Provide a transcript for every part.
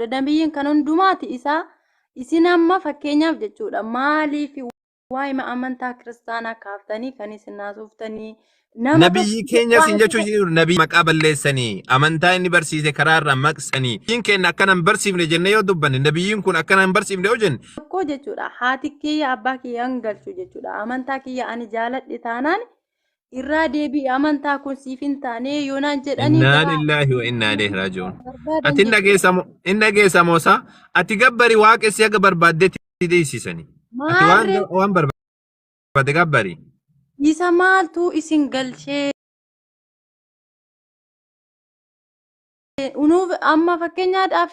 Nabiyyiin kan hundumaati isaa isin amma fakkeenyaaf jechuudha maaliif waa'ima amantaa kiristaanaa kaaftanii kan isin haasooftanii nama Nabiyyii tokko keenya isin waa'ee jechuu tokko- jiru nabii maqaa balleessanii amantaa inni barsiise karaa irraa maqsanii nabiyyiin keenya akkana hin barsiifne jennee yoo dubbanne nabiyyiin kun akkana hin barsiifne yoo jenne tokko jechuudha haati kiyya abbaa kiyya hin galchu jechuudha amantaa kiyya ani jaaladhe taanaan irraa deebi'i amantaa kun siif hin taane yoo naan jedhanii Innaa garaa lillaahi wa innaa ilayhi raaji'uun. barbaadan Ati hin jedhee dhageessa moo hin dhageessa moo isaa? Ati gabbari waaqessi haga barbaaddetti deessisani. Ati waan maarree waan barbaadde gabbari. isa maaltu isin galchee unuuf amma fakkeenyaadhaaf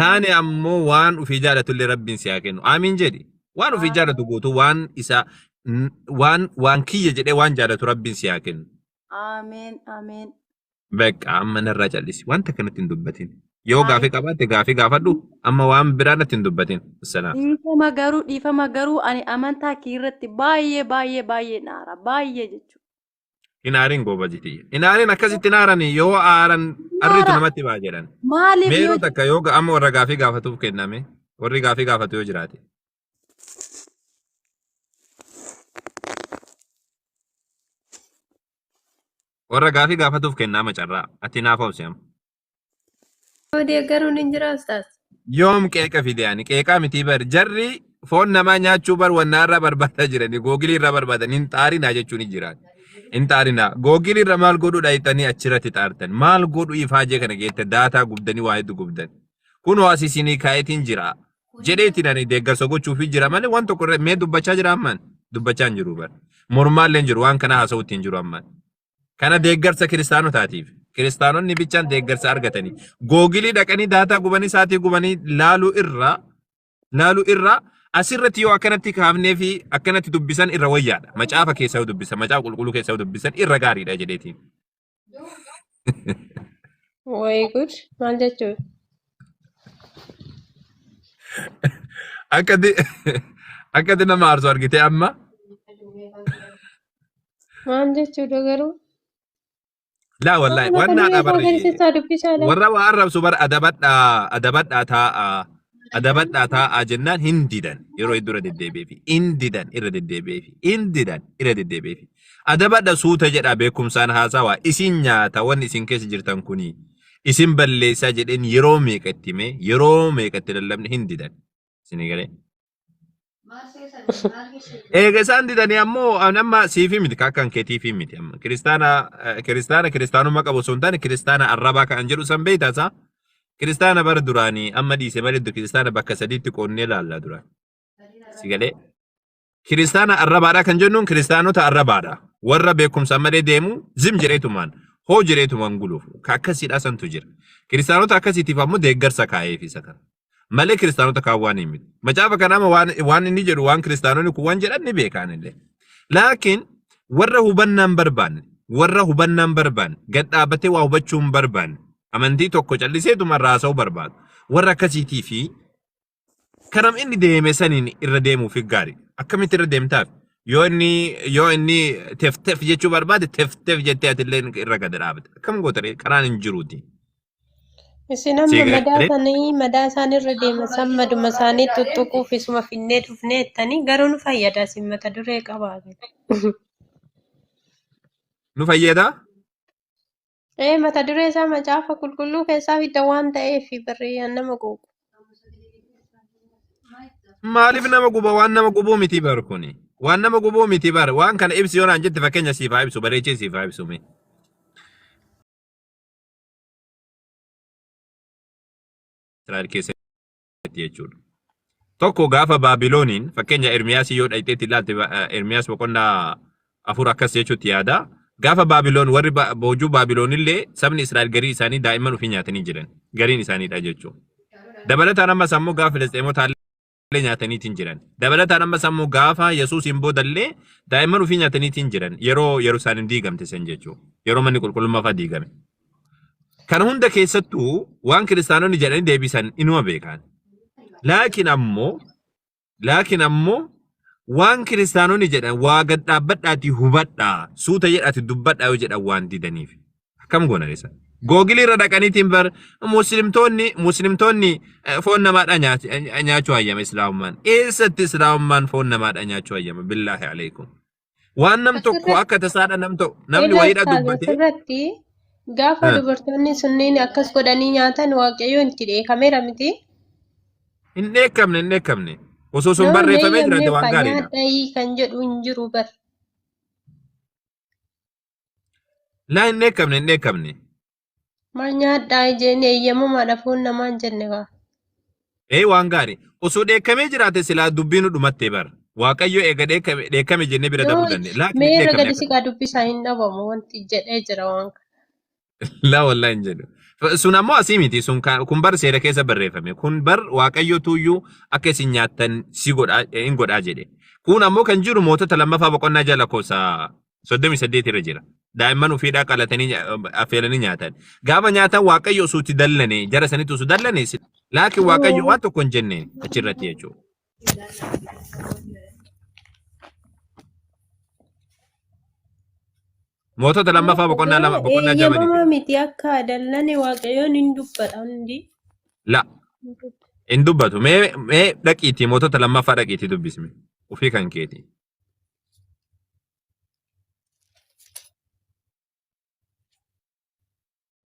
taane ammoo waan ofii jaalatu illee rabbiin si haa kennu aamiin jedhi waan ofii jaalatu guutuu waan isaa n- waan waan kiyya jedhee waan jaalatu rabbiin si haa kennu Ameen ameen. beeqa amma narraa callisi wanta kanatti hin dubbatin yoo Ayi. gaafii qabaatte gaafii gaafadhu amma waan biraa natti hin dubbatin salaam Dhiifama garuu dhiifama garuu ani amantaa kee irratti baay'ee baay'ee baay'ee naara baay'ee jechuudha. Hin aarin goobazi tiyya. Hin aarin akkasitti hin aarani yoo aaran arritu Aara. namatti ba'a jedhan. Maaliif Meeroo yoo takka yoo ga- amma warra gaafii gaafatuuf kenname warri gaafii gaafatu yoo jiraate. Warra gaafii gaafatuuf kennama carraa ati naaf obsi amma. Yoo deeggaruun hin jira ustaas. Yoom qeeqa fide ani qeeqaa mitii bar jarri foon namaa nyaachuu bar wannaa irraa barbaadaa jirani googilii irraa barbaadan hin xaarinaa jechuun hin jiraan. Hin xaarinaa googilii irra maal godhuu dhayxanii achirratti xaartan maal godhuu ifaajee kana geette daataa gubdanii waa hedduu gubdan. Kun waasi isinii kaayetiin jira. Jedheetiin ani deeggarsa gochuufii jira malee waan tokko irra mee dubbachaa jira ammaan dubbachaa hin jiru bar. Mormaallee hin jiru waan kana haasa'uutti hin jiru ammaan. Kana deeggarsa kiristaanotaatiif. Kiristaanonni bichaan deeggarsa argatanii. Googilii dhaqanii daataa gubanii saatii gubanii laaluu irraa laaluu irraa asirratti yoo akkanatti kaafnee fi akkanatti dubbisan irra wayyaadha. Macaafa keessa yoo dubbisan, macaafa qulqulluu keessa yoo dubbisan irra gaariidha jedheetiin. Way good. Maal jechuun? Akkati akkati nama aarsu argitee amma Maal jechuudha garuu? Laa wallaahi Waan waan naadhaa akka barri. durii keessaa dubbisaa laata? Warra waa arrabsu bara adabadhaa adabadhaa taa'aa adabadhaa taa'aa jennaan hin didan yeroo hedduu irra deddeebi'eefi hin didan irra deddeebi'eefi hin didan irra deddeebi'eefi adabadha suuta jedhaa beekumsaan haasawaa isin nyaata wanni isin keessa jirtan kuni isin balleessaa jedheen yeroo meeqa itti mee yeroo meeqa itti lallabne hin didan isin galee Eega isaan didanii ammoo ani amma siifii miti ka akkan keetiifii miti amma kiristaana eh, kiristaana kiristaanummaa qabu osoo hin taane kiristaana arrabaa kan jedhu san beektaa isaa kiristaana bara duraanii amma dhiise malee iddoo kiristaana bakka sadiitti qoodnee ilaalla duraan si galee kiristaana arrabaadha kan jennuun kiristaanota arrabaadha warra beekumsa malee deemu zim jedheetumaan hoo jedheetumaan guluuf ka akkasiidha santu jira kiristaanota akkasiitiif ammoo deeggarsa kaa'eef isa kana Malee kiristaanota kaan waan hin miti. Macaafa kana amma waan, waan inni jedhu waan kiristaanonni kun waan jedhan ni beekaan illee. Laakiin warra hubannaan barbaanne, warra hubannaan barbaanne, gad dhaabatee waa hubachuu hin barbaanne, amantii tokko calliseetuma irraa haasa'uu barbaadu. Warra akkasiitii fi karam inni deeme saniin irra deemuuf gaarii. Akkamitti irra deemtaaf? Yoo inni yoo inni tef tef jechuu barbaade tef tef jettee atillee irra gad dhaabata. Akkam gootaree karaan hin jiruuti. Isin amma Sigaa madaa galee sanii madaa isaan irra deema san maduma isaanii tuttuquuf isuma finnee dhufnee jettanii garuu nu fayyada isin mata duree qabaa. nu fayyada. Ee mata duree isaa macaafa qulqulluu keessaa fidda waan ta'eef barree yaan nama quuqu. Maaliif nama guba waan nama gubuu miti bar kuni. Waan nama gubuu miti bar waan kana ibsi yoo naan jette fakkeenya siif haa ibsu bareechee siif haa ibsu mee. Israa'el keessatti jechuudha. Tokko gaafa Baabilooniin fakkeenya Ermiyaasii yoo dhaqxeetti ilaalte Ermiyaas boqonnaa afur akkas jechuutti yaada. Gaafa Baabiloon warri boojuu Baabiloon illee sabni Israa'el garii isaanii daa'imman ofii nyaatanii jiran gariin isaaniidha jechuudha. Dabalataan ammas ammoo gaafa Filisxeemotaa illee nyaataniitiin jiran. Dabalataan ammas ammoo gaafa Yesuusiin booda illee daa'imman ofii nyaataniitiin jiran yeroo Yerusaalem diigamte san jechuudha. Yeroo manni qulqullummaa fa'aa diigame. Kana hunda keessattuu waan kiristaanonni jedhanii deebisan inuma beekan. Laakiin ammoo laakiin ammoo waan kiristaanonni jedhan waa gad dhaabbadhaatii hubadhaa suuta jedhaati dubbadhaa yoo jedhan waan didaniif. Akkam goonan isa. Googilii irra dhaqaniitiin bar muslimtoonni muslimtoonni eh, foon namaadha nyaati- eh, nyaachuu hayyama islaamummaan. Eessatti islaamummaan foon namaadha nyaachuu hayyama billaahi alaikum. Waan nam tokko Asirratti- akka tasaadha nam tokko namni Egaa wayiidha ustaaza dubbatee asirratti gaafa Eh. dubartoonni sunniin akkas godhanii nyaatan waaqayyoon itti dheekameera miti. hin dheekkamne hin dheekkamne. Osoo sun Nama barreeffamee jiraate waan eeyyamneef gaariidha. nyaadhaayii kan jedhu hin jiru bar. Laa hin dheekkamne hin dheekkamne. Maal nyaadhaa ijeen eeyyamamaadha foon namaa hin jenne kaa. Ee waan gaarii. Osoo dheekkamee jiraate silaa dubbiin nu dhumattee bara. Waaqayyo eega dheekkame dheekkame jennee bira Yoo dabuu dandeenya. Laakiin hin meerra dheekkamne gadi si kaa dubbisaa hin dhabamu wanti jedhee jira waan kana. Laa wallaahi hin jedhu. F- Sun ammoo asii miti. Sun ka- kun bar seera keessa barreeffame. Kun bar waaqayyo tuuyyuu akka isin nyaattan si godhaa eh, hin godhaa jedhe. Kun ammoo kan jiru mootota lammaffaa boqonnaa jala lakkoofsa soddomii saddeet irra jira. Daa'imman ofiidhaa qalatanii nya- affeelanii nyaatan. Gaafa nyaatan waaqayyo osoo itti dallane jara sanitti osoo dallane si- laakiin waaqayyo waan tokko hin jenne achirratti jechuudha. Mootota lammaffaa boqonnaa lama boqonnaa ja'a miti. Eeyyamamaa miti akka dallane waaqayyoon hin dubbadha hundi. La hin dubbatu. Mee mee dhaqiitii mootota lammaffaa dhaqiitii dubbisme. Ofii kan keeti.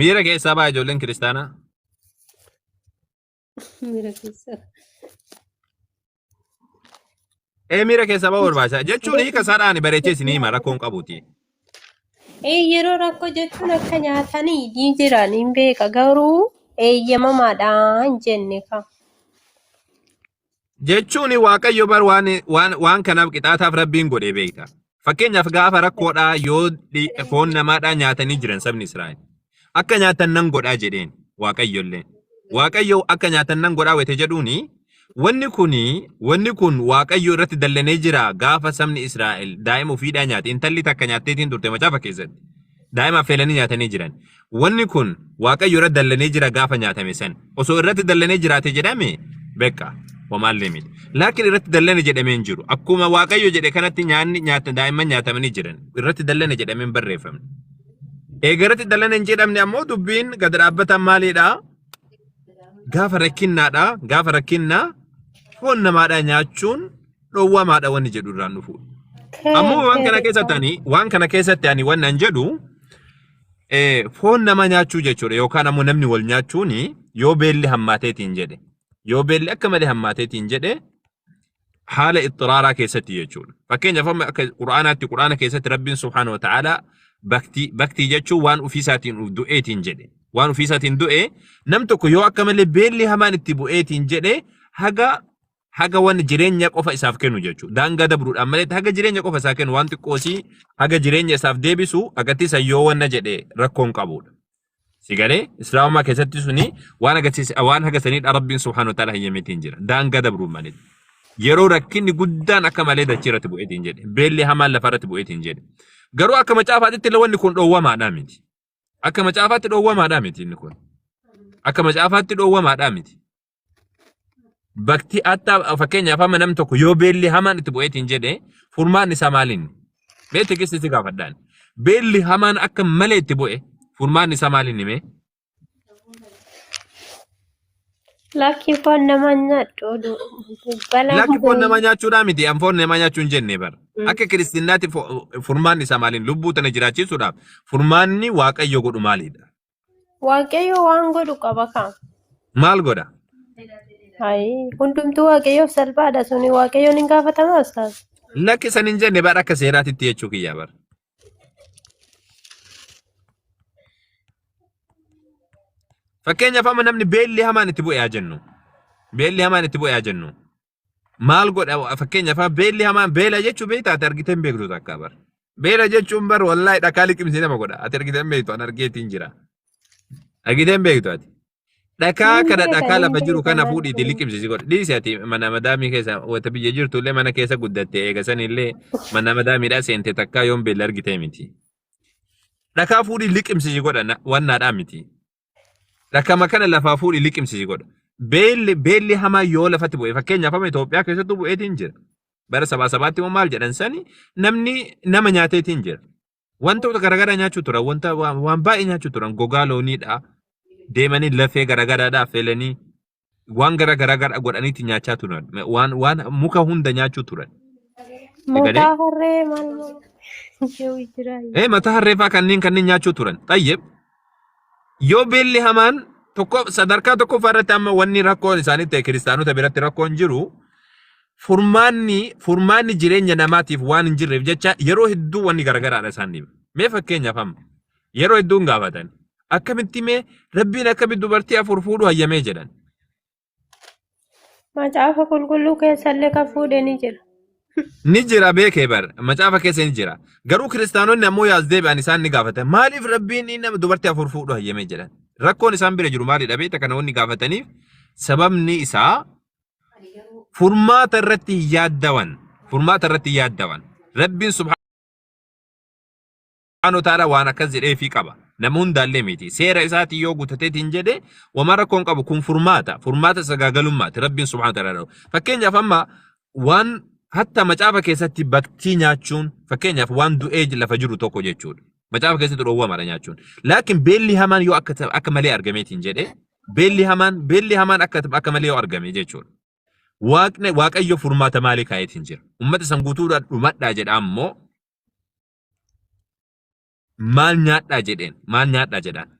Miira keessaa ba'a ijoolleen kiristaanaa. Miira keessa. Ee miira keessaa ba'a barbaachisa. Jechuun hiika isaadhaan bareechee isin hima rakkoon qabuuti. Ee yeroo rakkoo jechuun akka nyaatanii ni jiran hin beeka garuu eeyyamamaadha hin jenne ka. jechuun waaqayyo bar waan waan waan kanaaf qixaataaf rabbiin godhee beekta. Fakkeenyaaf gaafa rakkoodhaa yoo dhi- foon namaadhaa nyaatanii jiran sabni Israa'el akka nyaatan nan godhaa jedheen waaqayyollee. Waaqayyo akka nyaatan nan godhaa wete jedhuuni wanni kun wanni kun waaqayyo irratti dallanee jira gaafa sabni Israa'el daa'ima ofiidhaa nyaate intalli takka nyaatteetiin turte macaafa keessatti. Daa'ima affeelanii nyaatanii jiran. Wanni kun Waaqayyo irra dallanee jira gaafa nyaatame san. Osoo irratti dallanee jiraate jedhame beeqa homaallee miti. Laakiin irratti dallane jedhamee hin jiru. Akkuma Waaqayyo jedhe kanatti nyaanni nyaata daa'imman nyaatamanii jiran. Irratti dallane jedhamee hin barreeffamne. Eega irratti dallane hin jedhamne ammoo dubbiin gad dhaabbatan maaliidha? Gaafa rakkinnaadha. Gaafa rakkinnaa foon namaadhaa nyaachuun dhowwamaadha wanni jedhu irraan dhufu. Ammoo waan kana keessatti ani waan kana keessatti ani waan nan jedhu eh, foon nama nyaachuu jechuudha yookaan ammoo namni wal nyaachuun yoo beelli hammaateetiin jedhe yoo beelli akka malee hammaateetiin jedhe haala ixxiraaraa keessatti jechuudha. Fakkeenyaaf amma akka Qur'aanaatti Qur'aana keessatti Rabbiin Subhaanahu wa Ta'aalaa baktii baktii jechuun waan ofiisaatiin uf du'eetiin jedhe. Waan ofiisaatiin du'e nam tokko yoo akka malee beelli hamaan itti bu'eetiin jedhe haga haga wanni jireenya qofa isaaf kennu jechuudha. Daangaa dabruudhaan malee haga jireenya qofa isaa kennu waan xiqqoosii haga jireenya isaaf deebisu agartii san yoo wanna jedhe rakkoon qabudha. Si galee islaamummaa keessatti suni waan agarsiise waan haga saniidha rabbiin subhaanahu wa ta'ala hayyameetiin jira. Daangaa dabruun malee. Yeroo rakkinni guddaan akka malee dachee irratti bu'eetiin jedhe. Beelli hamaan lafa irratti bu'eetiin jedhe. Garuu akka macaafaatitti illee wanni kun dhoowwamaadhaa miti. Akka macaafaatti dhoowwamaadhaa miti inni kun. Akka macaafaatti dhoowwamaadhaa miti. Bakti hatta fakkeenyaaf amma nam tokko yoo beelli hamaan itti bu'eetiin jedhe furmaan isaa maaliin? Mee tikisti si gaafadhaan. Beelli hamaan akka malee itti bu'e furmaan isaa maaliin himee? Lakkii foon nama nyaadhu oduu. Balaa Lakki foon nama nyaachuudhaa miti an foon nama nyaachuu hin jenne bara. Akka kiristiinaatti fo- furmaanni isaa maaliin? Lubbuu tana jiraachiisuudhaaf furmaanni waaqayyo godhu maalidha? Waaqayyo waan godhu qaba kaa. Maal godha? Hayi hundumtuu waaqayyoof salphaadha suni waaqayyoon hin gaafatamaa ustaaz. Lakki san hin jenne bara akka seeraatitti jechuu kiyyaa bara. Fakkeenyaaf amma namni beelli hamaan itti bu'e haa jennu. Beelli hamaan itti bu'e haa jennu. maal godha fakkeenyaaf beelli hamaan beela jechuun beektaa ati argitee hin beektu takka bar. Beela jechuun bar wallaahi dhakaa liqimsee nama godha ati argitee hin beektu an argeetiin jira. Argitee hin beektu ati. Dhakaa Hin kana beeka, dhakaa hin lafa jiru beeka, kana maal fuudhiiti ta'e? liqimsisi godha. Dhiisi ati mana madaamii keessa wata biyya jirtu illee mana keessa guddatte eega san illee mana madaamiidhaa seente takkaa yoon beela argitee miti. Dhakaa fuudhii liqimsisi godha na- wannaadhaa miti. Rakama kana lafaa fuudhi liqimsisi godha. Beelli beelli hamaa yoo lafatti bu'e fakkeenyaaf amma Itoophiyaa keessattuu bu'eetiin jira. Bara sabaa sabaatti immoo maal jedhan sani namni nama nyaateetiin jira. Wantoota garaagaraa nyaachuu turan wanta waan waan baay'ee nyaachuu turan gogaa looniidha. Deemanii lafee garaagaraadha affeelanii waan gara gara gara godhaniitti nyaachaa turan waan waan muka hunda nyaachuu turan. Mataa harree maal maal yoo jira. Ee mataa harreefaa kanneen kanneen nyaachuu turan. Xayyib yoo beelli hamaan tokko sadarkaa tokkoffaa irratti amma wanni rakkoon isaanii ta'e kiristaanota biratti rakkoon jiru furmaanni furmaanni jireenya namaatiif waan hin jirreef jecha yeroo hedduu wanni garagaraadha isaan dhiba. Mee fakkeenyaaf amma Yeroo hedduun gaafatan. Akkamitti mee rabbiin akkamitti dubartii afur fuudhu hayyamee jedhan. Macaafa qulqulluu keessallee kan fuudhe ni jira. Ni jira beekee bar macaafa keessa ni jira. Garuu kiristaanonni ammoo yaas deebi'an isaan ni gaafatan. Maaliif rabbiin inni nama dubartii afur fuudhu hayyamee jedhan. Rakkoon isaan bira jiru maalidha beekta kana wanni gaafataniif sababni isaa furmaata irratti hin yaaddawan. Furmaata irratti hin yaaddawan. Rabbiin subhaanahu Subhaanahu wa ta'aala waan akkas jedheefii qaba. Nama hundaallee miti. Seera isaatiin yoo gutateetiin jedhe wama rakkoo hin qabu kun furmaata. Furmaata sagaagalummaati. Rabbiin subhaanahu wa ta'aala jedhu. Fakkeenyaaf amma waan hatta macaafa keessatti baktii nyaachuun fakkeenyaaf waan du'ee lafa jiru tokko jechuudha. Macaafa keessatti dhoowwamaadha nyaachuun. Laakiin beelli hamaan yoo akka ta- akka malee argameetiin jedhe beelli hamaan beelli hamaan akka akka malee yoo argame jechuudha. Waaqni waaqayyo furmaata maalii kaa'eetiin jira. Ummata san guutuudhaan dhumadhaa jedha ammoo maal nyaadhaa jedheen maal nyaadhaa jedhaan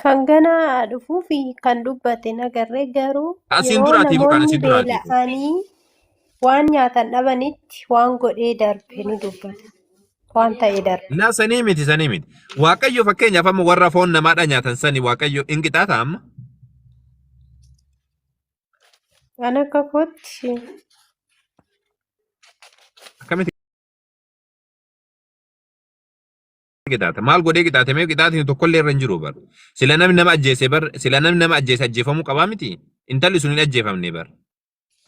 Kan ganaa dhufuu fi kan dubbate nagarree garuu asiin yeroo duraatii fuudhaan namoonni asiin duraatii fuudhaan beela'anii waan nyaatan dhabanitti waan godhee darbe ni dubbata. Waan ta'e darbe. na sanii miti sanii miti waaqayyo fakkeenyaaf amma warra foon namaadhaa nyaatan sanii waaqayyo hin qixaataa amma An akka kootti Akkamitti qixaata? Maal godhee qixaate? Mee qixaatiin tokkollee irra hin jiru bar. Sila namni nama ajjeese bar. Sila namni nama ajjeese ajjeefamuu qabaa miti. Intalli sun hin ajjeefamne bar.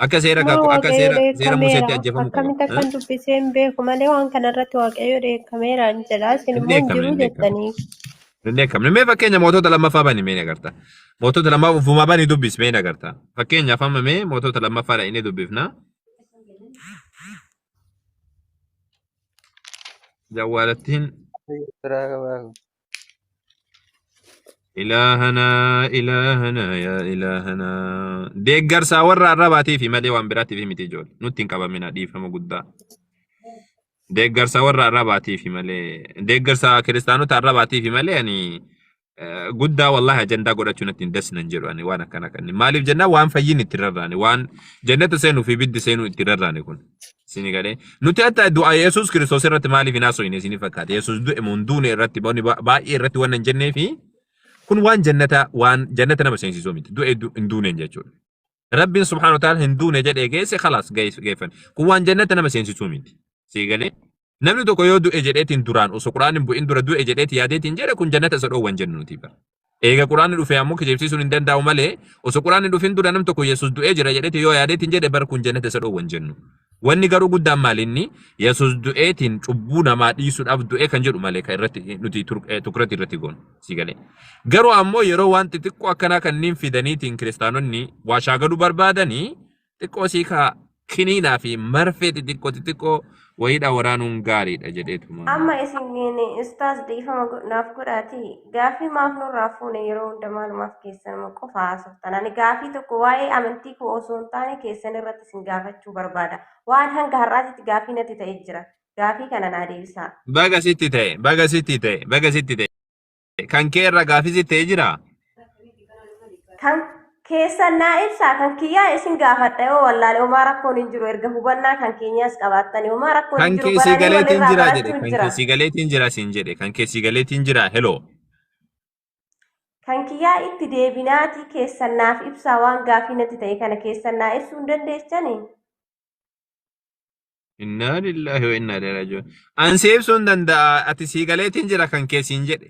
Akka seera maa kakuu akka waaqayyo seera seera dheekkameera Museetti ajjeefamuu qaba. akkamitti akkan dubbisee hin beeku malee waan kana irratti waaqayyo dheekkameera hin jedha isin Hin immoo hin dheekkamne jiru hin dheekkamne. jettanii Inni akkamni mee fakkeenya mootota lammaffaa bani mee nagarta. Mootota lammaffaa ufumaa bani dubbis mee nagarta. Fakkeenyaaf amma mee mootota lammaffaa dhaqnee dubbifna. Jawwaalattiin Biraa qabaa kun. ilaahana ilaahana yaa ilaahana. Deeggarsaa warra arrabaatiif malee waan biraatiif miti ijoollee. Nutti hin qabamina dhiifama guddaa. Deeggarsa warra arrabaatiifi malee deeggarsa kiristaanota arrabaatiifi malee ani eh, guddaa wallahi ajandaa godhachuu natti hin dasnan jedhu ani waan akkana kan maaliif jennaan waan fayyiin itti rarraane waan jannata seenuu fi biddi seenuu itti rarraane kun isin galee nuti hatta du'a Yesuus Kiristoos irratti maaliif hin haasofne isin fakkaate Yesuus du'e mun duune irratti bonni ba- baay'ee irratti waan hin jennee fi kun waan jannata waan jannata nama seensisuu miti du'e du- hin duuneen jechuudha. Rabbiin subhaanahu wa ta'aala hin duune jedhee geesse khalaas geesse- geeffan. Kun waan jannata nama seensisuu miti. Sii galee? Namni tokko yoo du'e jedheetiin duraan osoo quraanni hin bu'in dura du'e jedheeti yaadeetiin jedhe kun jannata isa dhoowwan jennu nuti bara. Eega quraanni dhufe ammoo kijibsiisuun hin danda'u malee osoo quraanni hin dhufin dura nam tokko Yesuus du'ee jira jedheeti yoo yaadeetiin jedhe bara kun jannata isa dhoowwan jennu. Wanni garuu guddaan maali inni Yesus du'eetiin cubbuu namaa dhiisuudhaaf du'ee kan jedhu malee kan irratti nuti tur- eh, tukrati irratti goonu sii galee. Garuu ammoo yeroo waan xixiqqoo akkanaa kanneen fidaniitiin kiristaanonni waa shaagaluu barbaadanii xiqqoo sii kaa kiniinaa fi marfee xixiqqoo xixiqqoo wayiidhaa waraanuun gaariidha jedheetuma. Amma isin ustaas dhiifama go- naaf godhaatii Gaaffii maaf nurraa fuune yeroo hunda maalumaaf keessanuma qofa haasoftan. Ani gaaffii tokko waa'ee amantii koo osoo hin taane keessan irratti isin gaafachuu barbaada. Waan hanga har'aatitti gaaffii natti ta'e jira. Gaaffii kana naa deebisaa. Baga sitti ta'e, baga sitti ta'e, baga sitti ta'e. Kan kee irra gaaffii sitti ta'e jiraa? Kan keessan naa ibsaa kan kiyyaa isin gaafadha yoo wallaale homaa rakkoon hin jiru erga hubannaa kan keenyaas qabaattanii homaa rakkoon hin Kan jiru keessii baranii galeetiin walirraa jira jedhe. barachuun Kan jira keessii galeetiin jira siin jedhe. Kan keessii galeetiin jira heloo. kan kiyyaa itti deebinaatii keessan naaf ibsaa waan gaafii natti ta'e kana keessan naa ibsuu hin dandeessanii Innaa lillahi wa innaa ilaihi raaji'uun. An si ibsuun danda'a ati sii galeetiin jira kan keessii hin jedhe.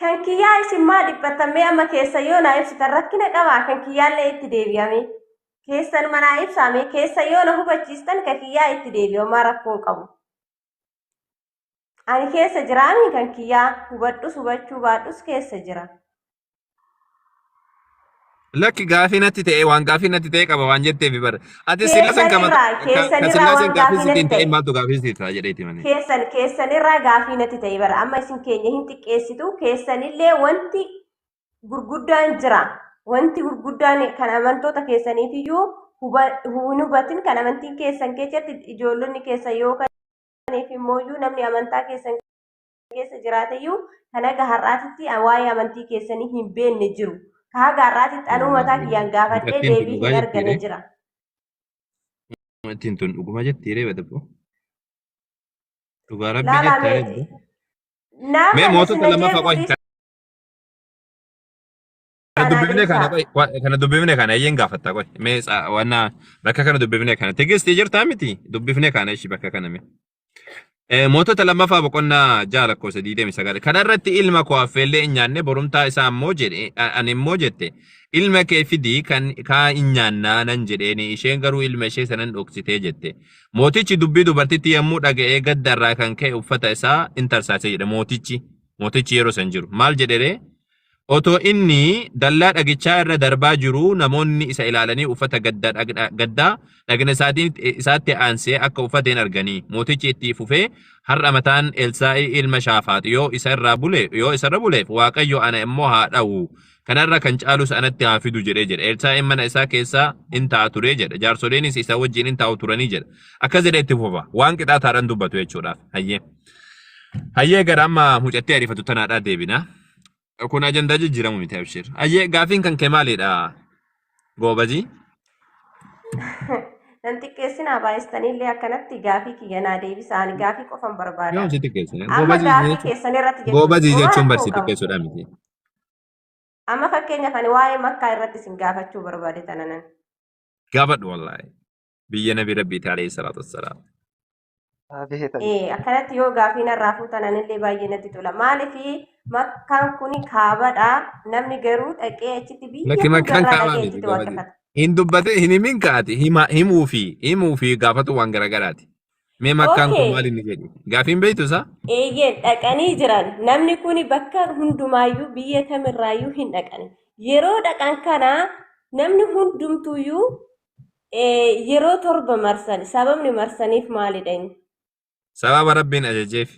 Kan kiyyaa isin maa dhiphattan mee amma keessa yoo naa ibsitan rakkina qabaa kan kiyyaallee itti deebi'ame. Keessan manaa ibsaame keessa yoo na hubachiistan kan kiyyaa itti deebi'amaa rakkoon qabu. Ani keessa jiraami kan kiyyaa hubadhus hubachuu baadhus keessa jira. Lakki gaafii natti ta'e waan gaafii natti ta'e qaba waan jetteef bara. Ati sillaasan kama keessanirraa sillaasan waan gaafii gaafii sitti hin natti ta'e ta'e. maaltu gaafii sitti ta'a jedheeti malee. keessan keessanirraa gaafii natti ta'e bara amma isin keenya hin xiqqeessitu keessanillee wanti gurguddaan jira wanti gurguddaan kan amantoota keessaniifiyyuu huba- hin hubatin kan amantiin keessan keessatti ijoollonni keessan yoo kaniif immooyyuu namni amantaa keessan keessa jiraateyyuu kan haga har'aatitti waa'ee amantii keessanii hin beekne jiru. Kan haga har'aatitti anuu mataa kiyyaan gaafadhee Dubartiin deebii dhugaa hin argane jettiire. jira. Ittiin tun dhuguma jetti reeba dabbo. Dhugaa rabbii Laalaa jettaa mee reebbo. nama Mee na mootota sinajee lammafaa qofa fuudhis Kana dubbifne kana Anaadeessaa. qoy- wa- kana dubbifne kana eeyyeen gaafatta qoy mee sa- wanna bakka kana dubbifne kana tegestii jirtaa miti dubbifne kana ishii bakka kana mee. Eh, Mootota lammaffaa boqonnaa ja'a lakkoofsa 29 kana irratti ilma koo affeellee hin nyaanne borumtaa isaa ammoo jedhe a- ani immoo jette ilma kee fidi kan kaa hin nyaannaa nan jedheeni isheen garuu ilma ishee sanan dhoksitee jette mootichi dubbii dubartitti yommuu dhaga'ee gadda irraa kan ka'e uffata isaa in tarsaase jedhe mootichi mootichi yeroo san jiru maal jedheree Otoo inni dallaa dhagichaa irra darbaa jiruu namoonni isa ilaalanii uffata gadda dhagna gaddaa dhagna isaatiin isaatti aansee akka uffateen arganii. Mootichi itti fufee har'a mataan Elsaa'i ilma Shaafaax yoo isa irraa bule yoo isa irra buleef Waaqayyo ana immoo haa dha'u kana irra kan caalus anatti haa fidu jedhe jedhe. Elsaa'iin mana isaa keessa in ta'a ture jedha. Jaarsoliinis isa wajjin in taa'u turanii jedha. Akkas jedhee itti fufa. Waan qixaataadhaan dubbatu jechuudhaaf. Hayyee. Hayyee gara amma mucattii ariifatu tanaadhaa deebina. Kun ajandaa jijjiiramu miti abshir. Ayyee gaafiin kan kee maalidha? Goobazii. Nan xiqqeessinaa baay'istaniillee akkanatti gaafii kiyya naa deebisaa ani gaafii qofan barbaada. Yoom si xiqqeessine? Amma Goobazii gaafii jechuun- keessan irratti jechuudha. goobazii Waan jechuun barsi koo qabu. xiqqeessuudha miti. Amma fakkeenyaaf ani waa'ee makkaa irratti isin gaafachuu barbaade tananan. Gaafadhu wallaahi. Biyya nabi rabbiiti alayhi salaatu wassalaam. Ee, akkanatti yoo gaafii narraa fuutan anillee baay'ee natti tola. Maaliif makkaan kun kaabadha. Namni garuu dhaqee achitti biyya Lakki makkaan hundarraa kaabaa dhaqee miti achitti gabatee. waaqeffata. Hin dubbate hin himin kaati hima himuu fi himuu fi gaafatu waan garagaraati. Mee makkaan kun Okay. maal inni jedhu? Gaafiin beektu isaa? Eeyyeen dhaqanii jiran. Namni kun bakka hundumaayyuu biyya kamirraayyuu hin dhaqan. Yeroo dhaqan kana namni hundumtuuyyuu Eh, yeroo torba marsan sababni marsaniif maalidha inni? Sababa Rabbiin ajajeef.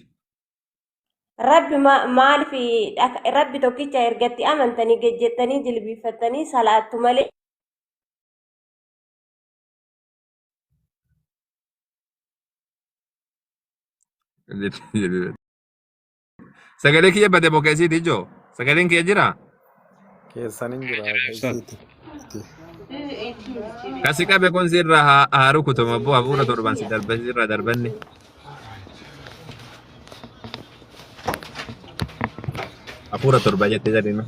Rabbi ma- maaliif dhaka- rabbi tokkicha ergatti amantanii gejjettanii jilbiiffattanii salaattu malee Sagalee kiyya bade moo keessi iti ijoo? Sagaleen kiyya jira? Keessan hin jira keessatti. Kasi qabe kun sirra haa haa rukutuma abboo hafuura torban si darbe sirra darbanne. Hafuura torba jette jedhinu.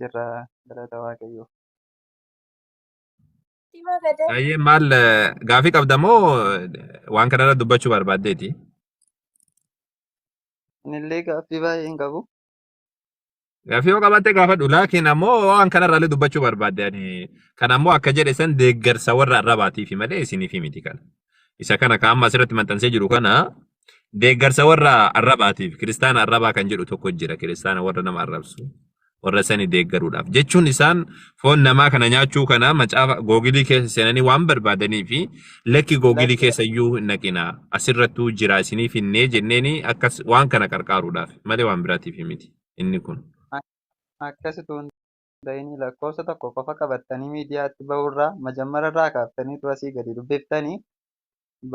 jirra galata waaqayyoo. Dhima gadaa Baay'ee maal eh, gaafii qabda moo eh, waan kanarra dubbachuu barbaaddeeti? Anillee gaaffii baay'ee hin qabu. Gaafii yoo qabaatte gaafadhu laakiin ammoo waan kanarraallee dubbachuu barbaadde ani kan ammoo akka jedhe san deeggarsa warra arrabaatiifi malee isiniifi miti kana. Isa kana kan amma asirratti maxxansee jiru kana Deeggarsa warra arrabaatiif kiristaana arrabaa kan jedhu tokko jira kiristaana warra nama arrabsu warra sani deeggaruudhaaf jechuun isaan foon namaa kana nyaachuu kana macaafa googilii keessa seenanii waan barbaadanii fi lakki googilii Lakki- keessa iyyuu hin dhaqina asirrattuu jira isiniif hinnee jenneeni akkas waan kana qarqaaruudhaaf malee waan biraatiif miti inni kun. Akkasitu hin tahinii lakkoofsa tokko qofa qabattanii miidiyaatti bahurraa majammararraa kaaftanii utuu asii gadi dubbiftanii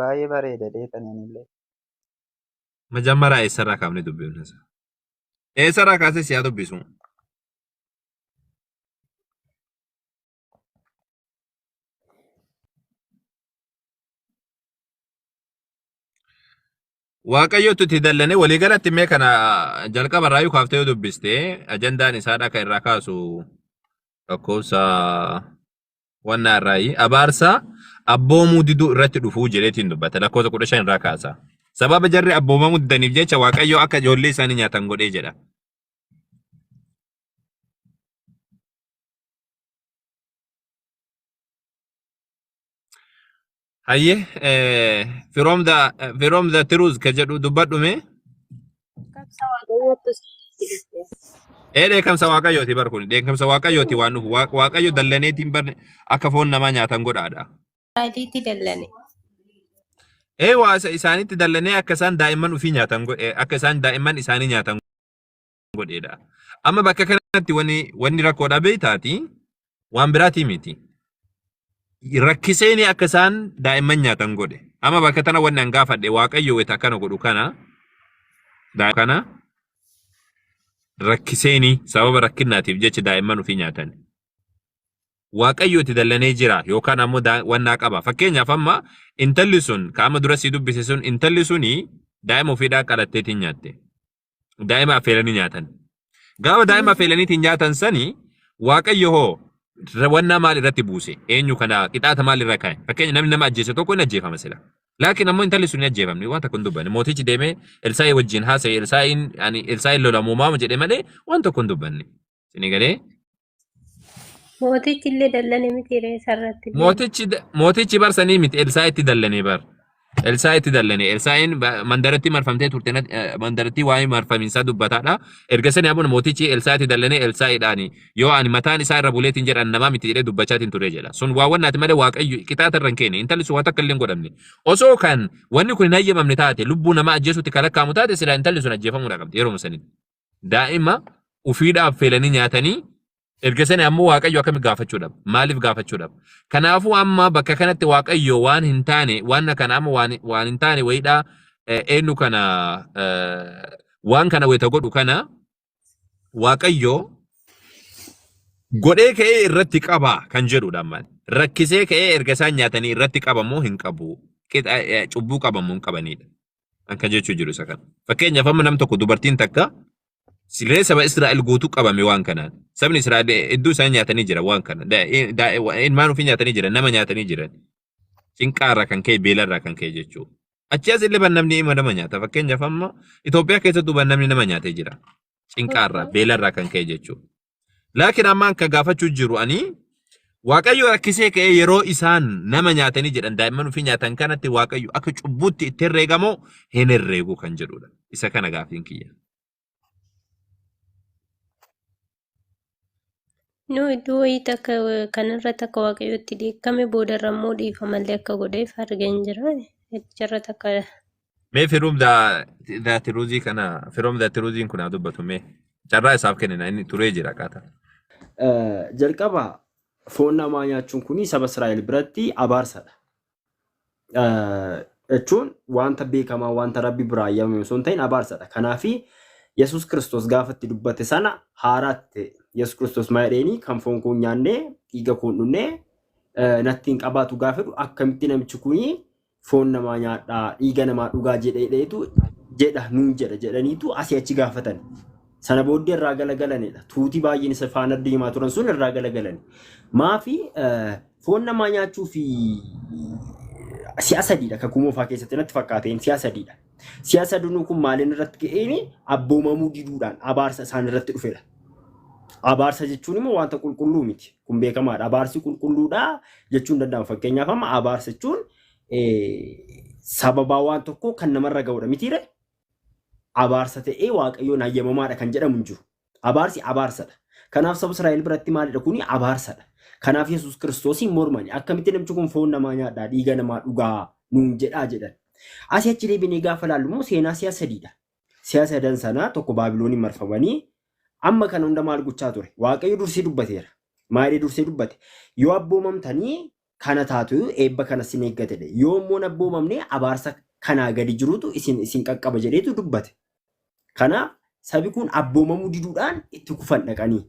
baayee bareeda jeetanii anillee. Majammaraa eessarraa kaafnee dubbifna sa? Eessarraa kaasee si haa dubbisu? Waaqayyootu itti dallane walii galatti mee kana jalqaba irraa kaaftee yoo dubbiste ajandaan isaa dhaka irraa kaasu lakkoofsa wannaa irraayi abaarsa abboomuu diduu irratti dhufuu jedheetiin dubbata lakkoofsa kudha shan irraa kaasa. Sababa jarri abboomamuu didaniif jecha waaqayyoo akka ijoollee isaanii nyaatan godhee jedha. Hayye firoom da firoom da tiruuz ka jedhu dubbadhu mee Kaksa waaqayyoottis itti dhufte. ee dheekamsa waaqayyooti bar kun dheekamsa waaqayyooti waan dhufu Waaq- waaqayyo dallaneetiin bar akka foon namaa nyaatan godhaadha. Isaatiitti dallane. Ee waa isa isaanitti dallanee akka isaan daa'imman ofii nyaatan godhe akka isaan daa'imman isaanii nyaatan godheedha. Amma bakka kanatti wanni wanni rakkoodha beektaati waan biraatii miti. Rakkiseeni akka isaan daa'imman nyaatan godhe. Amma bakka tana wanni an gaafadhe waaqayyo wayita akkana godhu kana daa'ima kana rakkiseeni sababa rakkinaatiif jecha daa'imman ofii nyaatan. Waaqayyo itti dallanee jira yookaan ammoo daa- wannaa qaba. Fakkeenyaaf amma intalli sun ka amma dura sii dubbise sun intalli suni daa'ima ofiidhaa qalatteetiin nyaatte. daa'ima affeelanii nyaatan. Gaafa daa'ima affeelaniitiin nyaatan sani waaqayyo hoo wannaa maal irratti buuse? Eenyu kana qixaata maal irra kaa'e? Fakkeenya namni nama ajjeese tokko hin ajjeefama sila. Laakiin ammoo intalli sun hin ajjeefamne waan tokko hin dubbanne. Mootichi deemee Elsaa'ii wajjin haasa'e Elsaa'iin ani Elsaa'iin lolamuumaama jedhe malee waan tokko hin dubbanne. Isin galee Mootichi illee dallane miti ree isarratti. Mootichi mootichi bar sanii miti Elsaa itti dallane bar. Elsaa itti dallane. Elsaa'iin ba- mandarattii marfamtee turte nat- eh, mandarattii waa'ee marfamiinsaa dubbataadha. Erga sanii abuna mootichi Elsaa itti dallane Elsaa'iidhaani. Yoo ani mataan isaa irra buleetiin jedhan namaa miti jedhee dubbachaatiin ture jedha. Sun waa wannaati malee waaqayyo qixaata irra hin keene. Intalli sun waa takka illee hin godhamne. Osoo kan wanni kun hin hayyamamne taate lubbuu namaa ajjeesuutti kan lakkaa'amu taate silaa intalli sun ajjeefamuudha qabdi yeroo sanitti. Daa'ima ufiidhaaf feelanii nyaatanii erga sani ammoo Waaqayyo akkami gaafachuudhaaf? Maaliif gaafachuudhaaf? Kanaafuu amma bakka kanatti Waaqayyo waan hin taane waan kana amma waan, waan hin taane wayiidha eh, eenyu kana eh, waan kana wayita godhu kana Waaqayyo godhee ka'ee irratti qaba kan jedhudha amma. Rakkisee ka'ee erga isaan nyaatanii irratti qabamoo hin qabu. Qixa- eh, Cubbuu qabamoo hin qabanidha. Akka jechuu jiru isa kana. Fakkeenyaaf amma nam tokko dubartiin takka siree saba Israa'el guutuu qabame waan kanaan. Sabni Israa'el hedduu isaan nyaatanii jira waan kana. Da- i- da- wa- Ilmaan ofii nyaatanii jiran, nama nyaatanii jiran. Cinqaarraa kan ka'e, beelarraa kan ka'e jechuudha. Achi as illee ban namni ima nama nyaata. Fakkeenyaaf amma Itoophiyaa keessattuu ban namni nama nyaatee jira. Cinqaarraa, beelarraa kan ka'e jechuudha. Laakiin ammaan kan gaafachuu jiru ani Waaqayyo rakkisee ka'ee yeroo isaan nama nyaatanii jedhan daa'imman ofii nyaatan kanatti Waaqayyo akka cubbuutti itti herreegamoo hin herreegu kan jedhudha. Isa kana gaafiin kiyya. Nu iddoo wayii takka kanarra takka waaqayyotti dheekkame boodarra immoo dhiifamallee akka godheef argeen jira. Icharra takka Mee firuum daa tiruuzii kana firoom daa tiruuziin kun haa dubbatu mee carraa isaaf kennina inni turee jira qaata. Eh, Jalqaba foon namaa nyaachuun kun saba Israa'el biratti abaarsadha. Eh, Jechuun wanta beekamaa wanta rabbi biraa ayyamame osoo hin ta'in abaarsadha. Kanaaf Yesuus Kiristoos gaafa itti dubbate sana haaraatti ta'e. Yesuus Kiristoos maal jedheeni kan foon koo hin nyaanne dhiiga koo hin dhugne eh, natti hin qabaatu gaafa jedhu akkamitti namichi kuni foon namaa nyaadhaa dhiiga namaa dhugaa jedheedheetu jedha nuun jedha jedhaniitu asii achi gaafatan. Sana booddee irraa galagalanidha. Tuuti baay'een isa faana deemaa turan sun irraa galagalani. Maafi foon namaa nyaachuu fi si'a sadiidha kakuu moofaa keessatti natti fakkaateen si'a sadiidha. Si'a sadinuu kun maaliin irratti ga'een abboomamuu diduudhaan abaarsa isaan irratti dhufedha. Abaarsa jechuun immoo wanta qulqulluu miti. Kun beekamaadha. Abaarsi qulqulluudha jechuun danda'ama. Fakkeenyaaf amma abaarsa jechuun sababaa waan tokkoo kan namarra ga'udha mitiire abaarsa ta'ee waaqayyoon hayyamamaadha kan jedhamu hin jiru. Abaarsi abaarsadha. Kanaaf saba Israa'el biratti maalidha kuni abaarsadha. Kanaaf Yesuus Kiristoosiin mormani akkamitti namchi kun foon namaa nyaadhaa dhiiga namaa dhugaa nuun jedhaa jedhan. Asii achi deebinee gaafa ilaallu immoo seenaa si'a sadiidha. si'a sadan sanaa tokko Baabilooniin marfamanii amma kana hunda maal gochaa ture? Waaqayyo dursee dubbateera. Maal jedhee dursee dubbate? Yoo abboomamtanii kana taatu eebba kana sin eeggata jedhe. Yoo immoo hin abboomamne abaarsa kanaa gadi jirutu isin isin qaqqaba jedheetu dubbate. Kanaaf sabi kun abboomamuu diduudhaan itti kufan dhaqanii.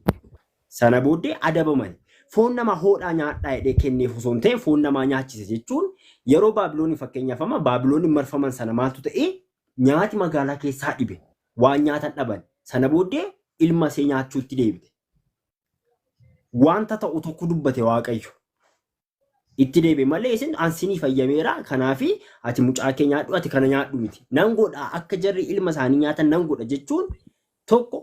Sana booddee adabaman. Foon namaa hoodhaa nyaadhaa jedhee kenneef osoo hin ta'in foon namaa nyaachise jechuun yeroo Baabilooniin fakkeenyaaf amma Baabilooniin marfaman sana maaltu ta'e? Nyaati magaalaa keessaa dhibe. Waan nyaatan dhaban. Sana booddee ilma ishee nyaachuutti deebite. Wanta ta'u tokko dubbate Waaqayyo. Itti deebi'e malee isin an sinii fayyameera kanaafi ati mucaa kee nyaadhu ati kana nyaadhu miti. Nan godha akka jarri ilma isaanii nyaatan nan godha jechuun tokko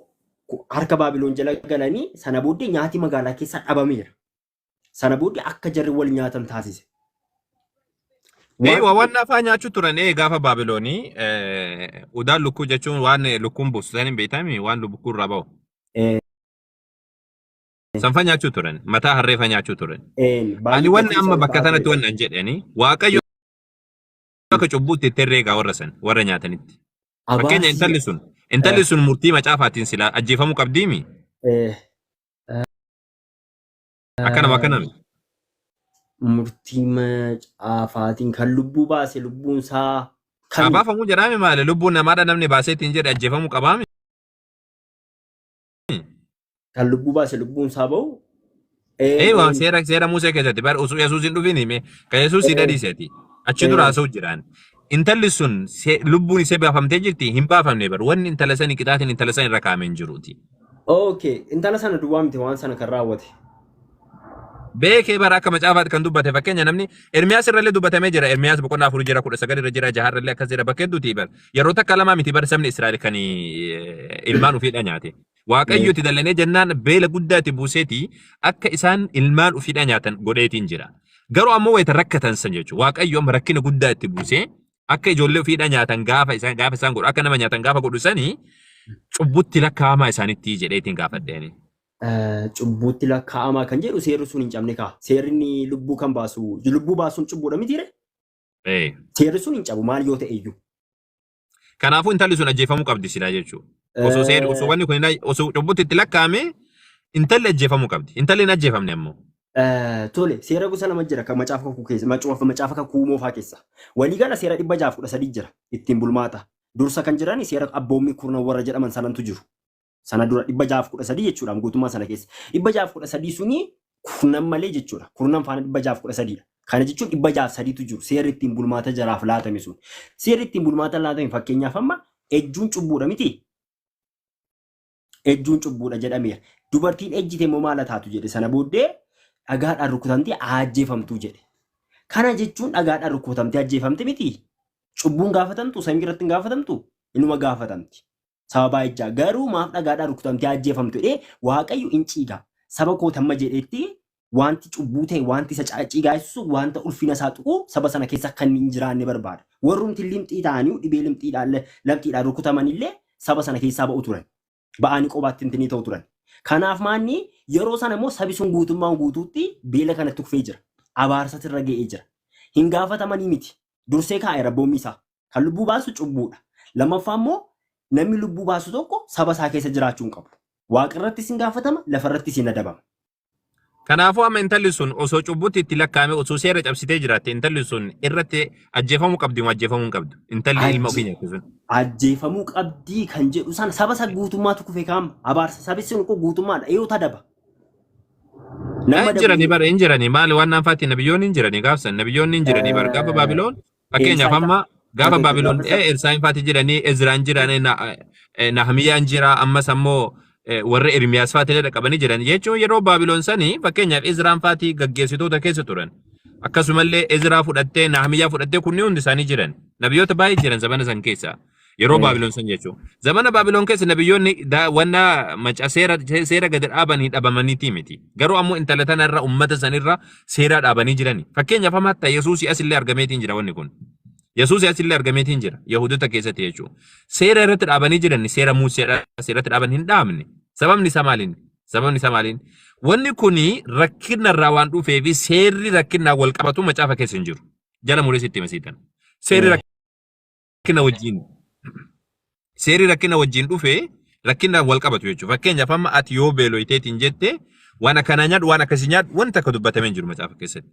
ku- harka Baabiloon jala galanii sana booddee nyaati magaalaa keessaa dhabameera. Sana booda akka jarri wal nyaatan taasise. Ee, Waan- waa waan afaan nyaachuu turan ee gaafa Baabiloonii ee, udaan lukkuu jechuun waan ee, lukkuun buustu san hin beektamii waan lukkuu irraa bahu. Ee, Sanfa nyaachuu turan mataa harreefa nyaachuu turan. een, Ani baay'ee wanni gatii amma isaanii bakka baay'ee sanatti dha. wanni an jedhani waaqayyo akka cubbuutti itti herreegaa warra san warra nyaatanitti. Fakkeenya Abaarsi intalli sun intalli sun murtii macaafaatiin silaa ajjeefamuu qabdiimi. ee, Akkanama akkanami. Murtii macaafaatiin kan lubbuu baase lubbuun isaa kan Abaafamu jedhaame maali? Lubbuun namaadha namni baasee ittiin jedhe ajjeefamuu qabaami. kan lubbuu baase lubbuun isaa ba'u. Ee waan seera seera Musee keessatti bar usu Yesuus hin dhufin hime ka Yesuus si dhadhiiseti. Achi dura haasa'u jiraan. Intalli sun se- lubbuun ishee baafamtee jirti hin baafamne bar wanni intala sanii qixaatiin intala san irra kaa'ame hin jiruuti. Okay, intala sana duwwaa miti waan sana kan raawwate. beekee bara akka macaafaatti kan dubbate fakkeenya namni Ermiyaas irrallee dubbatamee jira Ermiyaas boqonnaa afurii jira kudha sagal irra jira jaha irrallee akkas jira bakka hedduuti bar yeroo takka lamaa miti bar sabni Israa'el kan eh, ilmaan ofiidha nyaate waaqayyo itti dallanee jennaan beela guddaa itti buuseeti akka isaan ilmaan ofiidha nyaatan godheetiin jira garuu ammoo wayita rakkatan san jechuudha waaqayyo amma rakkina guddaa itti buusee Akka ijoollee ofiidhaa nyaatan gaafa isaan gaafa isaan godhu akka nama nyaatan gaafa godhu sanii cubbutti lakkaa'amaa isaanitti jedhee ittiin gaafadheeni. Eh, Cubbuutti lakkaa'amaa kan jedhu seerri sun hin cabne kaa. Seerri inni lubbuu kan baasu, lubbuu baasuun cubbuudha mitiire? Ee. Seerri sun hin cabu maal yoo ta'e iyyuu. Kanaafuu intalli sun ajjeefamuu qabdi silaa jechuudha. Osoo seerri osoo wanni kun hin- osoo cubbutti itti lakkaa'ame intalli ajjeefamuu qabdi. Intalli hin ajjeefamne ammoo. Eh, Tole, seera gosa lama jira kan macaafa kakuu keessa, macaafa macaafa kakuu moofaa keessa. Waliigala seera dhibba jaaf kudha sadii jira ittiin bulmaata. Dursa kan jiran seera abboommii kurnan warra jedhaman sanantu jiru. Sana dura dhibba jaaf kudha sadii jechuudha guutummaa sana keessa. Dhibba jaaf kudha sadii suni kurnan malee jechuudha. Kurnan faana dhibba jaaf kudha sadiidha. Kana jechuun dhibba jaaf sadiitu jiru seerri ittiin bulmaata jaraaf laatame sun. Seerri ittiin bulmaata laatame fakkeenyaaf amma ejjuun cubbuudha miti. Ejjuun cubbuudha jedhameera. Dubartiin ejjite immoo maal taatu jedhe sana booddee dhagaadhaan rukutamtee ajjeefamtuu jedhe. Kana jechuun dhagaadhaan rukutamtee ajjeefamte miti. Cubbuun gaafatamtu samii irratti hin gaafatamtu inuma gaafatamti. Sababaa ejjaa garuu maaf dhagaadhaan rukutamtee ajjeefamtu jedhee waaqayyo hin ciiga. Saba koo tamma jedhetti Wanti cubbuu ta'e, wanti isa caaccii gaasisu, wanta ulfina isaa tuqu saba sana keessa akka inni hin jiraanne barbaada. Warrumti limxii ta'anii dhibee limxiidhaan le- lamxiidhaan rukutaman illee saba sana keessaa ba'u turan. Ba'anii qobaatti intinii ta'u turan. Kanaaf maanni yeroo sana immoo sabi sun guutummaan guutuutti beela kanatti kufee jira. Abaarsatu irra ga'ee jira. Hin gaafatamanii miti. Dursee kaa'e rabboommi isaa. Kan lubbuu baasu cubbuudha. Lammaffaa immoo namni lubbuu baasu tokko saba isaa keessa jiraachuu hin qabu. Waaqa irrattis hin gaafatama, lafa irrattis hin adabama. Kanaafuu amma intalli sun osoo cubbutti itti lakkaa'ame osoo seera cabsitee jiraatte intalli sun irratti ajjeefamuu qabdi moo ajjeefamuu hin qabdu? Intalli ilma ofii nyaatte sun. Ajjeefamuu qabdii kan jedhu sana saba isa guutummaatu kufe kaama. Abaarsa sabi sun kun guutummaadha. Iyuu tadaba. Nama Hin jirani dabalee. bara hin jirani maali waan naanfaatti nabiyyoonni hin jirani gaafsan nabiyyoonni hin jirani bara gaafa Baabiloon Fakkeenyaaf amma gaafa Baabiloon dhee Elsaa'iin faati jiranii Ezraan jiranii Nahmiyaan jira ammas ammoo warri Ermiyaas faati illee dhaqabanii jiran jechuun yeroo Baabiloon sanii fakkeenyaaf Ezraan faati gaggeessitoota keessa turan. Akkasumallee Ezraa fudhattee Nahmiyaa fudhattee kunni hundi isaanii jiran. Nabiyoota baay'ee jiran zamana san keessa. Yeroo Eh. Baabiloon san jechuun. Zamana Baabiloon keessa nabiyyoonni daawwannaa maca seera seera gadi dhaabanii dhabamaniitii miti. Garuu ammoo intala tana irra ummata san irra seeraa dhaabanii jirani. Fakkeenyaaf amma hatta Yesuusii asillee argameetiin jira wanni kun. Yesuusii asillee argameetiin jira Yahudota keessatti jechuudha. Seera irratti dhaabanii jiran seera Muuseedha seeratti dhaaban hin dhaabne. Sababni isaa maaliin? Sababni isaa maaliin? Wanni kun rakkina irraa waan dhufee fi seerri rakkinaan wal qabatu macaafa keessa hin jiru. Jala muree sitti hima siitan. Seerri Eh. rakkina wajjin seerri rakkina wajjin dhufe rakkinaan wal qabatu jechuudha. Fakkeenyaaf amma ati yoo beeloyteetiin jette waan akkanaa nyaadhu waan akkasii nyaadhu wanta akka dubbatamee hin jiru macaafa keessatti.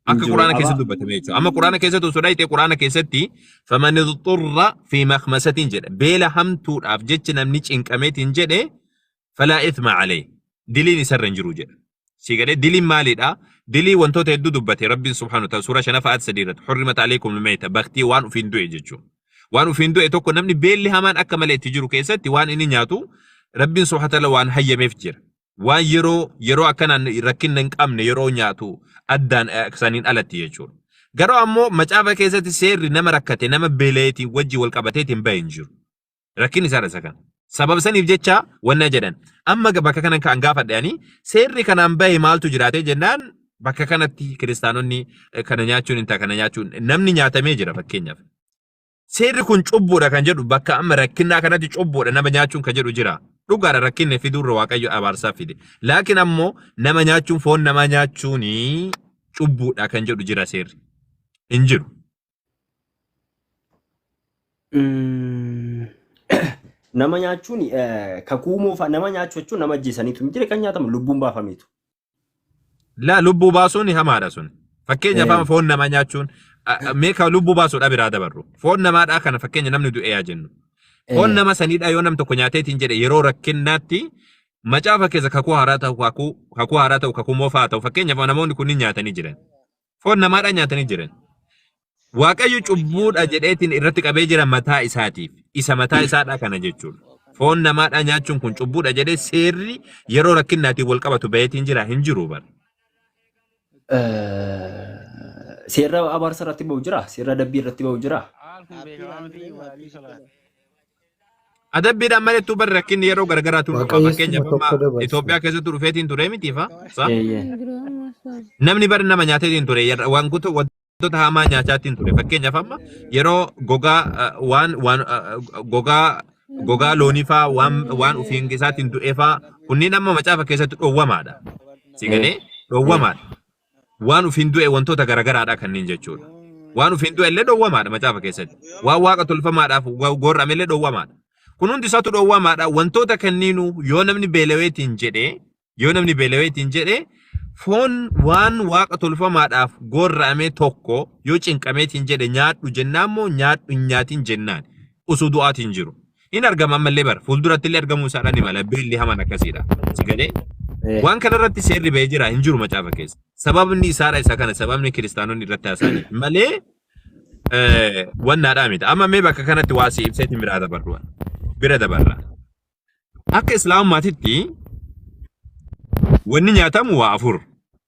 Akka Injiru quraana qaba. keessatti dubbatamee jechuudha. Amma quraana keessatti osoo dhaayitee quraana keessatti faman xurra fi makmasatiin jedha. Beela hamtuudhaaf jecha namni cinqameetiin jedhe falaa ithma alayh diliin isarra hin jiru jedha sii galee diliin maaliidha dilii wantoota hedduu dubbate rabbiin subhaanahu ta'ala suuraa shanafa aat sadii irratti hurrimat alaykum almayta baktii waan ufiin du'e jechuu waan ufiin du'e tokko namni beelli hamaan akka malee itti jiru keessatti waan inni nyaatu rabbiin subhaanahu ta'ala waan hayyameef jira waan yeroo yeroo akkanaan rakkinna hin qabne yeroo nyaatu addaan saniin alatti jechuudha. Garuu ammoo macaafa keessatti seerri nama rakkate nama beeleetiin wajji wal qabateetiin bahe hin jiru. Rakkinni isaadha isa kana. Sababa saniif jecha wanna jedhan. Amma ga- bakka kanan ka'an gaafadhe ani seerri kanaan bahe maaltu jiraatee jennaan bakka kanatti kiristaanonni eh, kana nyaachuun hin ta'a kana nyaachuun namni nyaatamee jira fakkeenyaaf. Seerri kun cubbuudha kan jedhu bakka amma rakkinnaa kanatti cubbuudha nama nyaachuun kan jedhu jira. Dhugaadha rakkinni fiduurra waaqayyo abaarsaa fide. Laakiin ammoo nama nyaachuun foon namaa nyaachuun cubbuudha kan jedhu jira seerri. Hin jiru. Mm, nama nyaachuun eh, kakuu moofaa nama nyaachuu jechuun nama ajjeesaniitu hin jire kan nyaatamu lubbuun baafameetu. La lubbuu baasuun hamaadha sun. Fakkeenyaaf amma Eh, foon namaa nyaachuun a- a- mee ka lubbuu baasuudha biraa dabarru. Foon namaadhaa kana fakkeenya namni du'e yaa jennu. Foon eh, nama saniidhaa yoo nam tokko nyaateetiin jedhe yeroo rakkinnaatti macaafa keessa kakuu haaraa ta'u kakuu kakuu haaraa ta'u kakuu moofaa ta'u fakkeenyaaf namoonni kunniin nyaatanii jiran. Foon namaadhaan nyaatanii jiran. Waaqayyo cubbuudha jedheetiin irratti qabee jira mataa isaatiif. Isa mataa isaadhaa kana jechuudha. Foon namaadhaa nyaachuun kun cubbuudha jedhee seerri yeroo rakkinnaatiin wal qabatu baheetiin jira hin jiru bara. Seerra abaarsa irratti ba'u jira? Seerra adabbii irratti ba'u jira? Haal kun beekamaa miti Abdii Salaam. Adabbiidhaan malittuu bar rakkinni yeroo garagaraatu dhufa. Waaqayyo Fakkeenyaaf suma tokko amma dabarsa. Itoophiyaa keessatti dhufeetiin ture miti fa? Sa? Eeyyee. Namni bar nama nyaateetiin ture yerra- wantoota wantoota hamaa nyaachaatiin ture. Fakkeenyaaf amma yeroo gogaa eh, waan waan eh, gogaa gogaa loonii faa waan waan ofiin isaatiin du'ee faa kunniin amma macaafa keessatti dhoowwamaadha. Si galee dhoowwamaadha. Waan ufiin du'e wantoota garagaraadha kanneen jechuudha. Waan ufiin du'e illee dhoowwamaadha macaafa keessatti. Waan waaqa tolfamaadhaaf go- goorrame illee dhoowwamaadha. Kun hundi isaatu dhoowwamaadha. Wantoota kanniinuu yoo namni beelaweetiin jedhe yoo namni beelaweetiin jedhe foon waan waaqa tolfamaadhaaf goorrame tokko yoo cinqameetiin jedhe nyaadhu jennaan moo nyaadhu hin nyaatin jennaan osoo du'aatiin jiru. hin argama ammallee bara fuulduratti illee argamuu isaadhaan ni mala beelli hamaan akkasiidha si galee Eh. waan kana irratti seerri ba'ee jira hin jiru macaafa keessa sababni isaadha isa kana sababni kiristaanonni irratti haasa'aniif malee eh, wannaadhaa miti amma mee bakka kanatti waa si ibseetiin biraa dabarru bira dabarra akka islaamummaatitti wanni nyaatamu waa afur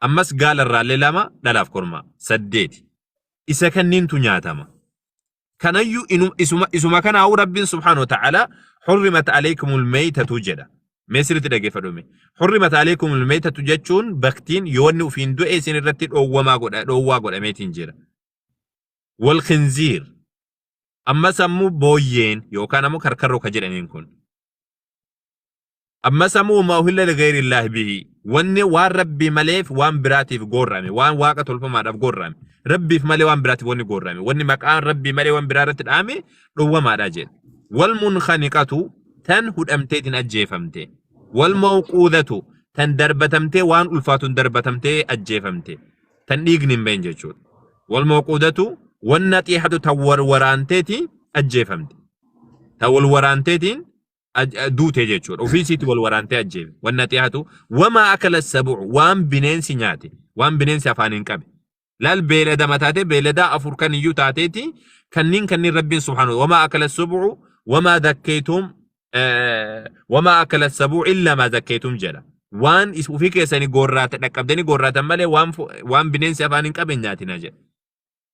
Ammas gaala irraallee lama dhalaaf kormaa. Saddeeti. Isa kanniintu nyaatama. Kanayyuu inu- isuma, isuma kanaa'uu Rabbiin subhaanahu wa ta'ala hurrimat alaykumul meeytatu jedha. Mee sirriitti dhaggeeffadhume. Hurrimat alaykumul meeytatu jechuun baktiin yoo inni ufiin du'e isin irratti dhoowwamaa godha, dhoowwaa godhameetiin jira. Wal khinziir. Ammas ammoo booyyeen yookaan ammoo karkarroo ka jedhaniin kun. amma samuu ma uhilla ligayri illaahi bihi wanni waan rabbii maleef waan biraatiif goorrame waan waaqa tolfamaadhaaf goorrame rabbiif malee waan biraatiif wanni goorrame wanni maqaa rabbii malee waan biraa irratti dhaame dhowwamaadha jedhe wal munkhaniqatu tan hudhamteetiin ajjeefamte wal mawquudatu tan darbatamtee waan ulfaatuun darbatamtee ajjeefamte tan dhiigni hin bahin jechuudha wal mawquudatu wanna xiihatu tan warwaraanteetiin ajjeefamte tan wal waraanteetiin aj- a- duute jechuudha. Ofii isiitti wal waraantee ajjeefe. Wanni ati haatu wamaa akala sabu'u waan bineensi nyaate waan bineensi afaaniin qabe. Laal beeladama taatee beeladaa afur kan iyyuu taateeti kanniin kanniin rabbiin subhaanahu wamaa akala sabu'u wamaa dakkeetum eh, wamaa akala sabu'u illaa maa dakkeetum jedha. Waan is- ofii keessanii goorraata dhaqqabdanii goorraatan malee waan fu- waan bineensi afaaniin qabe hin nyaatinaa jedha.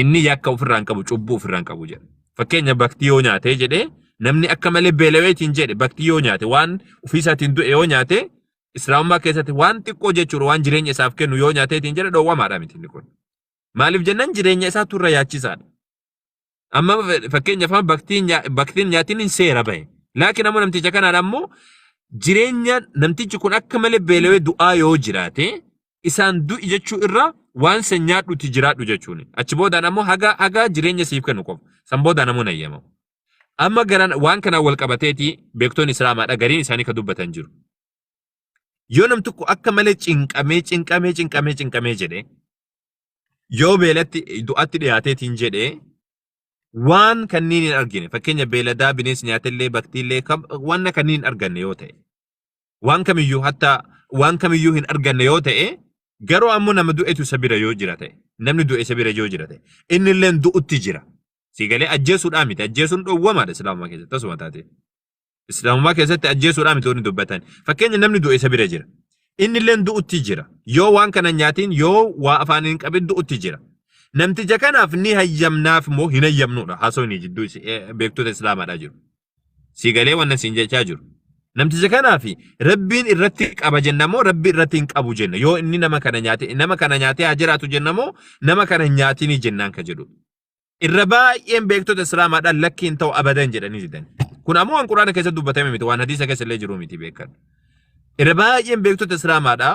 Inni yakka ofirraa hin qabu, cubbuu ofirraa hin qabu jedha. Fakkeenya bakti yoo nyaatee jedhee namni akka malee beelaweetiin jedhe bakti yoo nyaate waan ofiisaatiin du'e yoo nyaate islaamummaa keessatti waan xiqqoo jechuudha waan jireenya isaaf kennu yoo nyaateetiin jedhe dhoowwamaadha miti inni kun. Maaliif jennaan jireenya isaa turra yaachisaadha. Amma fakkeenyaaf amma baktiin nyaa- baktiin nyaatiin hin seera bahe. Laakiin ammoo namticha kanaan ammoo jireenya namtichi kun akka malee beelawee du'aa yoo jiraate isaan du'i jechuu irra waan san nyaadhuti jiraadhu jechuun achi boodaan ammoo haga haga jireenya siif kennu qofa san boodaan ammoo nayyamamu. Amma garaan waan kanaan wal qabateeti beektoonni islaamaadha gariin isaanii ka dubbatan jiru. Yoo nam tokko akka malee cinqamee cinqamee cinqamee cinqamee jedhee yoo beelatti du'atti dhiyaateetiin jedhee waan kanniin hin argine fakkeenya beeladaa bineensi nyaatellee baktiillee kam- wanna kanniin hin arganne yoo ta'e waan kamiyyuu hatta waan kamiyyuu hin arganne yoo ta'e garuu ammoo nama du'etu isa bira yoo jira ta'e namni du'e isa bira yoo jira ta'e inni illee du'utti jira si galee ajjeesuudhaa miti ajjeesuun dhowwamaadha islaamummaa keessatti tasuma taatee islaamummaa keessatti ajjeesuudhaa miti wanni dubbatan fakkeenya namni du'e isa bira jira inni illee du'utti jira yoo waan kana nyaatiin yoo waa afaan hin qabin du'utti jira namticha kanaaf ni hayyamnaaf moo hin hayyamnuudha haasofni jidduu isi- eh, beektota islaamaadhaa jiru sii galee wannan siin jechaa jiru namticha kanaa fi rabbiin irratti qaba jenna moo rabbi irratti hin qabu jenna yoo inni nama kana nyaate nama kana nyaatee haa jiraatu jenna moo nama kana hin nyaatinii jennaan ka jedhu irra baay'een beektota islaamaadhaan lakki hin ta'u abadan jedhanii didan kun ammoo waan quraana keessatti dubbatame miti waan hadiisa keessa illee jiru miti beekan irra baay'een beektota islaamaadhaa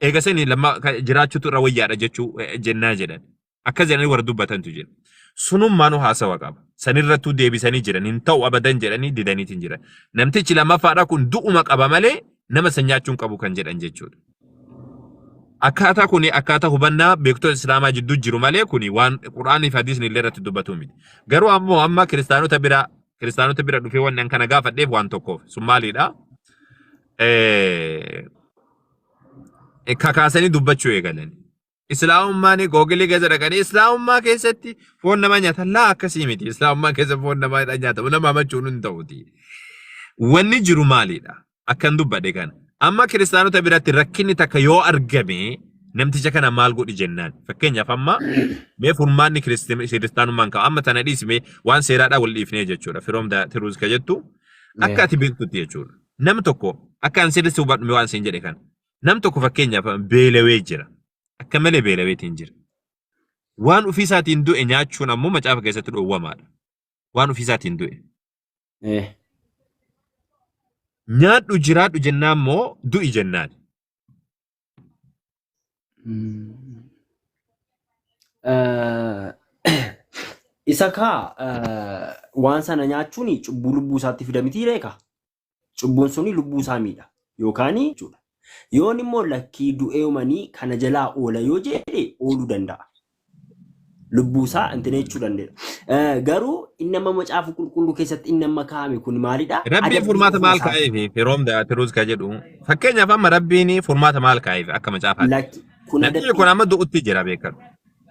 Eega sanii lamma ka- jiraachuutu irra wayyaadha jechuu eh, jennaa jedhan. Akkas jedhanii warra dubbatantu jira. Sunummaanu haasawa qaba. Sanirrattuu deebisanii jiran hin ta'u abadan jedhanii didaniitiin jiran. Namtichi lammaffaadha kun du'uma qaba malee nama san nyaachuun qabu kan jedhan jechuudha. Akkaataa kuni akkaataa hubannaa beektota Islaamaa jidduu jiru malee kuni waan Qur'aanii fi Hadiisni illee irratti dubbatu miti. Garuu ammoo amma kiristaanota bira kiristaanota bira dhufee waan kana gaafadheef waan tokkoof sun maalidha? Eh, kakaasanii dubbachuu eegalan. Islaamummaan googilii keessa dhaqanii islaamummaa keessatti foon namaa nyaatan laa akkasii miti. Islaamummaa keessa foon namaa dha nyaatamu nama hamachuun hin ta'uti. Wanni jiru maalidha? Akkan dubbadhe kana. Amma kiristaanota biratti rakkinni takka yoo argame namticha kana maal godhi jennaan. Fakkeenyaaf amma mee furmaanni kiristi- kiristaanummaan ka'a. Amma tana dhiisime waan seeraadhaa wal dhiifnee jechuudha. Firoom da tiruus ka jettu akka ati beektutti jechuudha. Nam tokko akka an sirriitti hubadhu mee waan siin jedhe kana. Nam tokko fakkeenyaaf beelawee jira. Akka malee beelaweetiin jira. Waan ofii isaatiin du'e nyaachuun ammoo macaafa keessatti dhoowwamaadha. Waan ofii isaatiin du'e. Eh. Nyaadhu jiraadhu jennaan moo du'i jennaan. Eh, Isa kaa eh, waan sana nyaachuun cubbuu lubbuu isaatti fida miti reeka. Cubbuun suni lubbuu isaa miidha yookaan jechuudha. Yoon immoo lakkii du'ee umanii kana jalaa oola yoo jedhe ooluu danda'a. lubbuu isaa intine jechuu dandeenya. Eh, Garuu inni amma macaafa qulqulluu keessatti inni amma kaa'ame kun maalidha? Rabbiin Adabbii furmaata ofuma maal isaati. kaa'eef firoom da'atiruus ka jedhu fakkeenyaaf amma rabbiin furmaata maal kaa'eef akka macaafaatti. Lakki kun Namichi kun adabbii amma du'utti jira beekadhu.